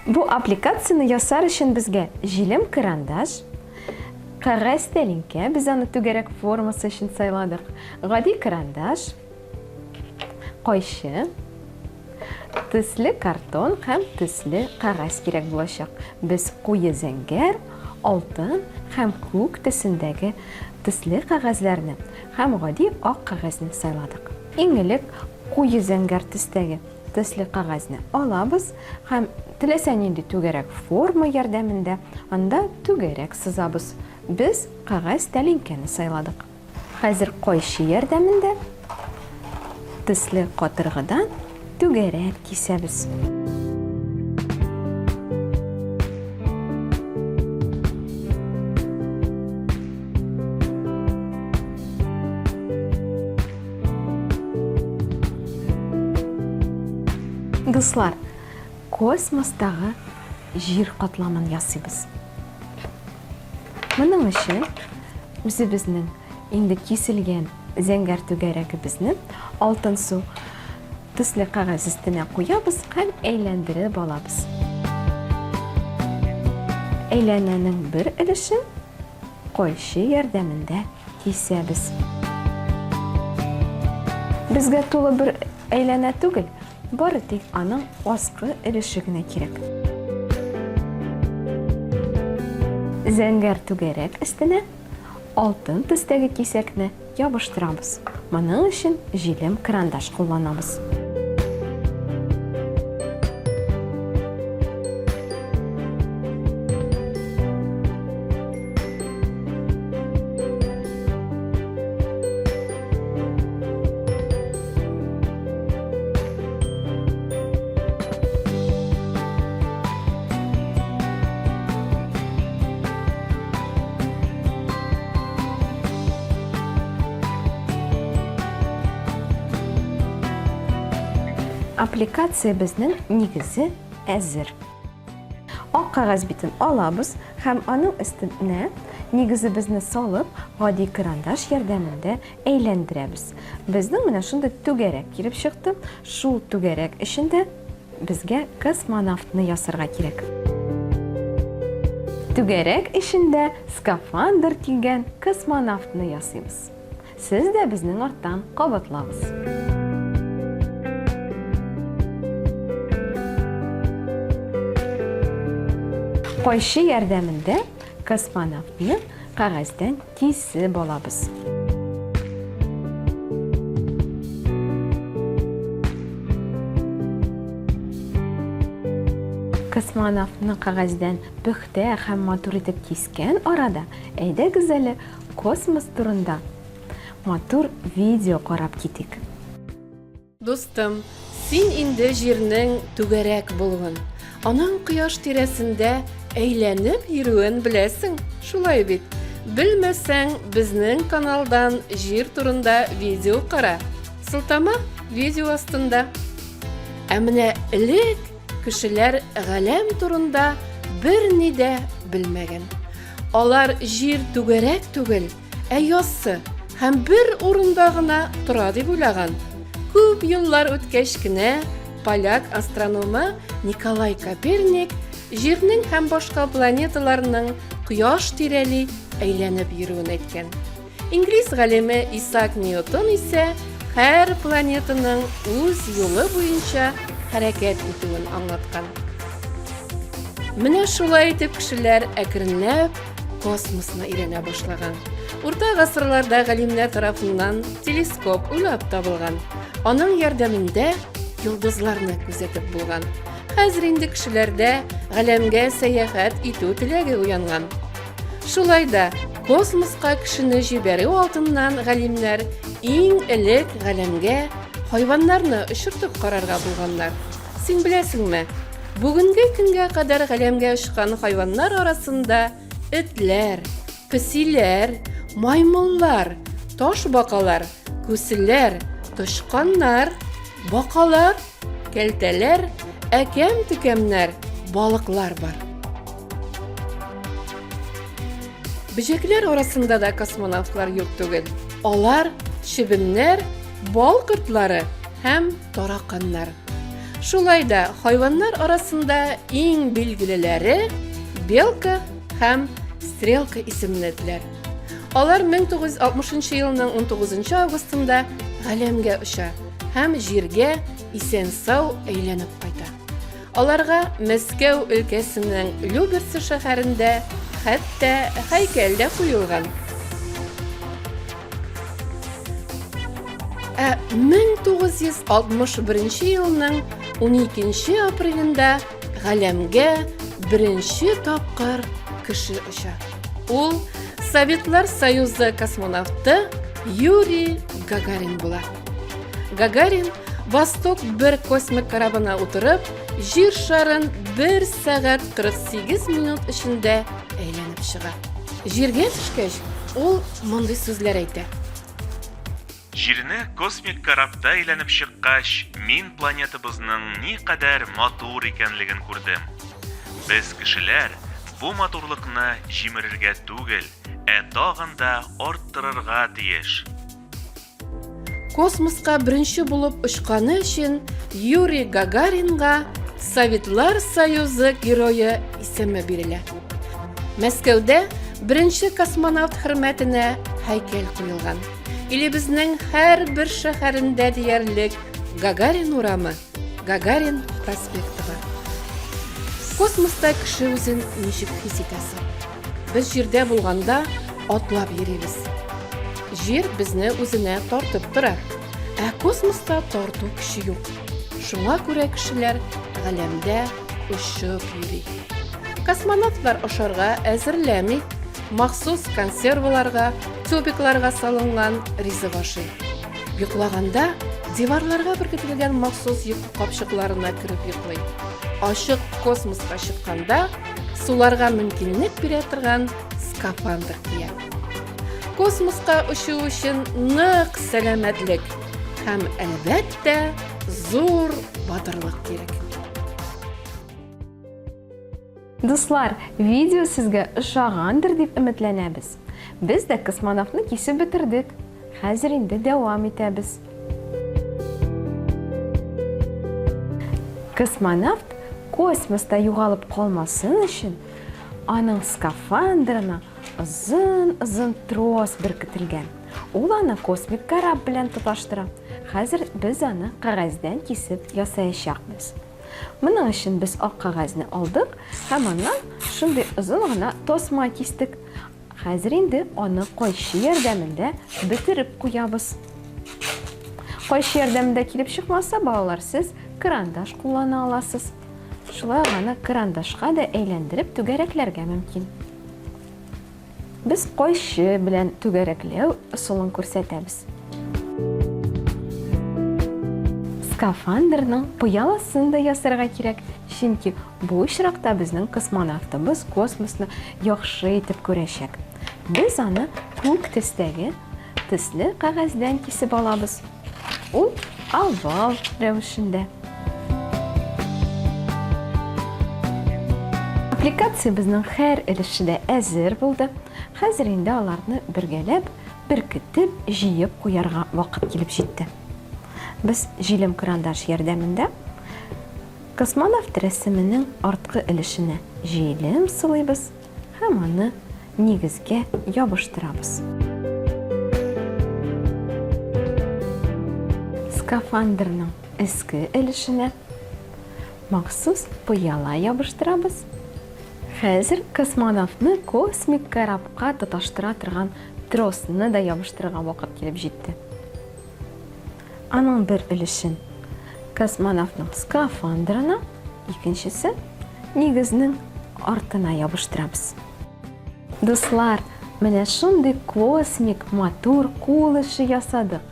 Бу аппликацияне ясар өчен безгә җилем карандаш, кәгазь тәлинкә, без аны түгәрәк формасы өчен сайладык, гади карандаш, кайчы, Төсле картон һәм төсле кәгазь кирәк булачак. Без куе зәңгәр, алтын һәм күк төсендәге төсле кәгазьләрне һәм гади ак кәгазьне сайладык. Иң элек куе зәңгәр төстәге төсле кәгазьне алабыз һәм теләсә нинди түгәрәк форма ярдәмендә анда түгәрәк сызабыз. Без кәгазь тәлинкәне сайладык. Хәзер кайчы ярдәмендә төсле катыргыдан түгәрәк кисәбез. Дуслар, космостагы җир катламын ясыйбыз. Моның өчен үзебезнең инде киселгән зәңгәр түгәрәгебезне алтын су төсле кәгазь өстенә куябыз һәм әйләндереп алабыз. Әйләнәнең бер өлешен койчы ярдәмендә кисәбез. Безгә тулы бер әйләнә түгел, Бары тик аның аскы өлеше генә кирәк. Зәңгәр түгәрәк өстенә алтын төстәге кисәкне ябыштырабыз. Моның өчен җилем карандаш кулланабыз. Аппликациябезнең нигезе әзер. Ак кагаз битен алабыз һәм аның өстенә нигезебезне салып, гади карандаш ярдәмендә Әйләндерәбез. Безнең менә шундый түгәрәк килеп чыкты. Шул түгәрәк эчендә безгә космонавтны ясарга кирәк. Түгәрәк эчендә скафандр килгән космонавтны ясыйбыз. Сез дә безнең арттан кабатлагыз. Кайчы ярдәмендә космонавтны кәгазьдән Тисе балабыз. Космонавтны кагәздән пөхтә һәм матур итеп кискән арада, әйдәгез әле космос турында матур видео карап китик. Дустым, син инде җирнең түгәрәк булуын, аның кояш тирәсендә әйләнеп йөрүен беләсең, шулай бит? Белмәсәң, безнең каналдан җир турында видео кара. Сылтама видео астында. Ә менә элек кешеләр галәм турында берни дә белмәгән. Алар җир түгәрәк түгел, Ә яссы һәм бер урында гына тора дип уйлаган. Күп еллар үткәч кенә поляк астрономы Николай Коперник Җирнең һәм башка планеталарның кояш тирәли әйләнеп йөрүен әйткән. Инглиз галиме Исаак Ньютон исә һәр планетаның үз юлы буенча хәрәкәт итүен аңлаткан. Менә шулай итеп кешеләр әкренләп космосны өйрәнә башлаган. Урта гасырларда галимнәр тарафыннан телескоп уйлап табылган. Аның ярдәмендә йолдызларны күзәтеп булган. Хәзер инде кешеләрдә галәмгә сәяхәт итү теләге уянган. Шулай да космоска кешене җибәрү алдыннан галимнәр иң элек галәмгә хайваннарны очыртып карарга булганнар. Син беләсеңме, бүгенге көнгә кадәр галәмгә очкан хайваннар арасында этләр, песиләр, маймыллар, таш бакалар, күселәр, тычканнар, бакалар, кәлтәләр, әкәм-төкәмнәр, балыклар бар. Бөҗәкләр арасында да космонавтлар юк түгел. Алар чебеннәр, бал кортлары, һәм тараканнар. Шулай да хайваннар арасында иң билгелеләре белка һәм стрелка исемле этләр. Алар 1960 елның 19 августында галәмгә оча һәм җиргә исән-сау әйләнеп кайта. Аларга Мәскәү өлкәсенең Люберцы шәһәрендә хәтта һәйкәл дә куелган. Ә 1961 елның 12 апрелендә галәмгә беренче тапкыр кеше оча. Ул Советлар Союзы космонавты Юрий Гагарин була. Гагарин Восток бер космик корабына утырып, җир шарын 1 сәгать 48 минут эчендә әйләнеп чыга. Җиргә төшкәч, ул мондый сүзләр әйтә. Җирне космик корабта әйләнеп чыккач, мин планетабызның никадәр матур икәнлеген күрдем. Без кешеләр бу матурлыкны җимерергә түгел, ә тагын да арттырырга тиеш. Космоска беренче булып очканы өчен Юрий Гагаринга Советлар Союзы герое исеме бирелә. Мәскәүдә беренче космонавт хөрмәтенә һәйкәл куелган. Илебезнең һәр бер шәһәрендә диярлек Гагарин урамы, Гагарин проспекты бар. Космоста кеше үзен ничек хис итәсе? Без җирдә булганда атлап йөрибез. Җир безне үзенә тартып тора. Ә космоста тарту көче юк. Шуңа күрә кешеләр галәмдә очып йөри. Космонавтлар ашарга әзерләми, махсус консерваларга, тюбикларга салынган ризык ашый. Йоклаганда диварларга беркетелгән махсус йокы капчыкларына кереп йоклый. Ачык космоска чыкканда суларга мөмкинлек бирә торган скафандр кия. Космоска очу өчен нык сәламәтлек һәм әлбәттә зур батырлык кирәк. Дуслар, видео сезгә ошагандыр дип өметләнәбез. Без дә космонавтны кисеп бетердек. Хәзер инде дәвам итәбез. Космонавт космоста югалып калмасын өчен, аның скафандрына озын-озын трос беркетелгән. Ул аны космик кораб белән тоташтыра. Хәзер без аны кәгазьдән кисеп ясаячакбыз. Моның өчен без ак кәгазьне алдык һәм аннан шундый озын гына тасма кистек. Хәзер инде аны кайчы ярдәмендә бетереп куябыз. Кайчы ярдәмендә килеп чыкмаса, балалар, сез крандаш куллана аласыз. Шулай ук аны крандашка да әйләндереп түгәрәкләргә мөмкин. Без кайчы белән түгәрәкләү ысулын күрсәтәбез. Скафандрның пыяласын да ясарга кирәк, чөнки Бу очракта безнең космонавтыбыз космосны яхшы итеп күрәчәк. Без аны күк төстәге төсле кәгазьдән кисеп алабыз. Ул овал рәвешендә. Аппликациябезнең һәр өлеше дә әзер булды. Хәзер инде аларны бергәләп, беркетеп, җыеп куярга вакыт килеп җитте. Без җилем-крандаш ярдәмендә Космонавт рәсеменең арткы өлешенә җилем сылыйбыз һәм аны нигезгә ябыштырабыз. Скафандрның өске өлешенә махсус пыяла ябыштырабыз. Хәзер космонавтны космик корабка тоташтыра торган тросны да ябыштырырга вакыт килеп җитте. Аның бер өлешен космонавтның скафандрына, икенчесен нигезнең артына ябыштырабыз. Дуслар, менә шундый космик матур кул эше ясадык.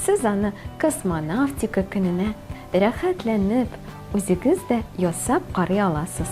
Сез аны космонавтика көненә рәхәтләнеп, үзегез дә ясап карый аласыз.